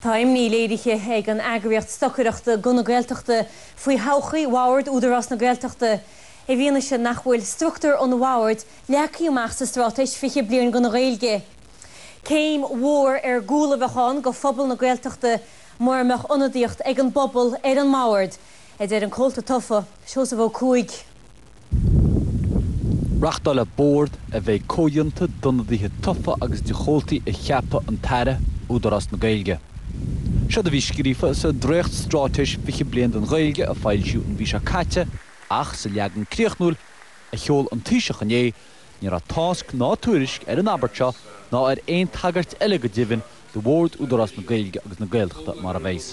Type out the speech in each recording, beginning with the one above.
Tá imní léirithe ag an eagraíocht stocaireachta Guth na Gaeltachta faoi thodhchaí Bhord Údarás na Gaeltachta i bhfianaise nach bhfuil struchtúr an Bhoird leagtha amach sa Straitéis 20 Bliain don Ghaeilge. Céim mhór ar gcúl a bheadh ann do phobal na Gaeltachta mura mbeadh ionadaíocht ag an bpobal ar an mBord, a deir an comhalta tofa, Seosamh Ó Cuaig. Reachtálfaidh bord a bheidh comhdhéanta d'ionadaithe tofa agus de chomhaltaí a cheapfadh an tAire, Údarás na Gaeilge. Seod a bhí scríofa sa Dréacht-Straitéis Fiche Bliain don Ghaeilge a foilsíodh an mhí seo caite ach sa leagan críochnúil a sheol an Taoiseach inné ní raibh tásc ná tuairisc ar an abairt seo ná ar aon tagairt eile go deimhin do bhord Údarás na Gaeilge agus na Gaeltachta mar a bheas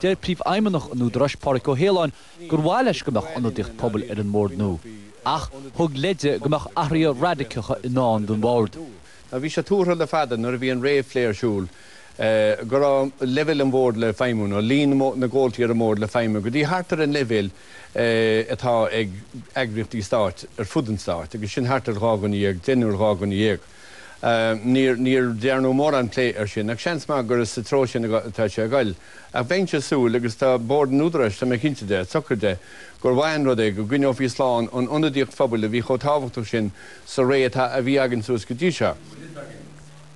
Deir Príomhfheidhmeannach an Údaráis, Pádraig Ó hAoláin, gur mhaith leis go mbeadh ionadaíocht pobail ar an mbord nua, ach thug leide go mbeadh athruithe raidiceacha i ndán don bord. Bhí sé tuartha le fada, nuair a bhí an réamhphlé ar siúl, go raibh leibhéal an bhoird le feidhmiú, nó líon na gcomhaltaí ar an mbord le feidhmiú, go dtí thart ar an leibhéal atá ag eagraíochtaí stáit ar fud an stáit, agus sin thart ar dhá dhuine dhéag, deichniúr, dhá dhuine dhéag. Níor dearnadh mórán plé ar sin, ach seans maith gur sa treo sin atá sé ag dul. Ach bheinnse ag súil, agus tá Bord an Údaráis, tá mé cinnte dearfa de, gur mhaith an rud é go gcoinneofaí slán an ionadaíocht phobail a bhí chomh tábhachtach sin sa ré atá, a bhí againn suas go dtí seo.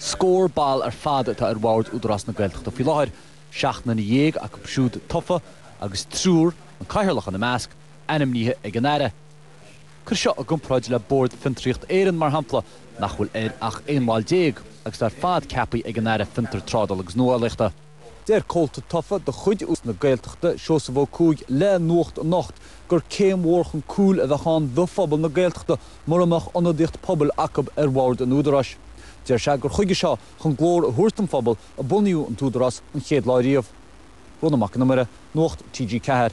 Scór ball ar fad atá ar Bhord Údarás na Gaeltachta faoi láthair, seacht nduine dhéag acu siúd tofa agus triúr, an cathaoirleach ina measc, ainmnithe ag an Aire. Cuir seo i gcomparáid le Bord Fiontraíocht Éireann, mar shampla, nach bhfuil air ach aon bhall déag, agus iad ar fad ceapthaí ag an Aire Fiontar, Trádála agus Nuálaíochta. Deir comhalta tofa de chuid Údarás na Gaeltachta, Seosamh Ó Cuaig, le Nuacht Anocht gur céim mhór chun cúil a bheadh ann do phobal na Gaeltachta mura mbeadh ionadaíocht pobail acub ar bhord an Údaráis. Deir sé gur chuige seo chun glór a thabhairt don phobal a bunaíodh an tÚdarás an chéad lá riamh. Rónán Mac an Iomaire, Nuacht TG4.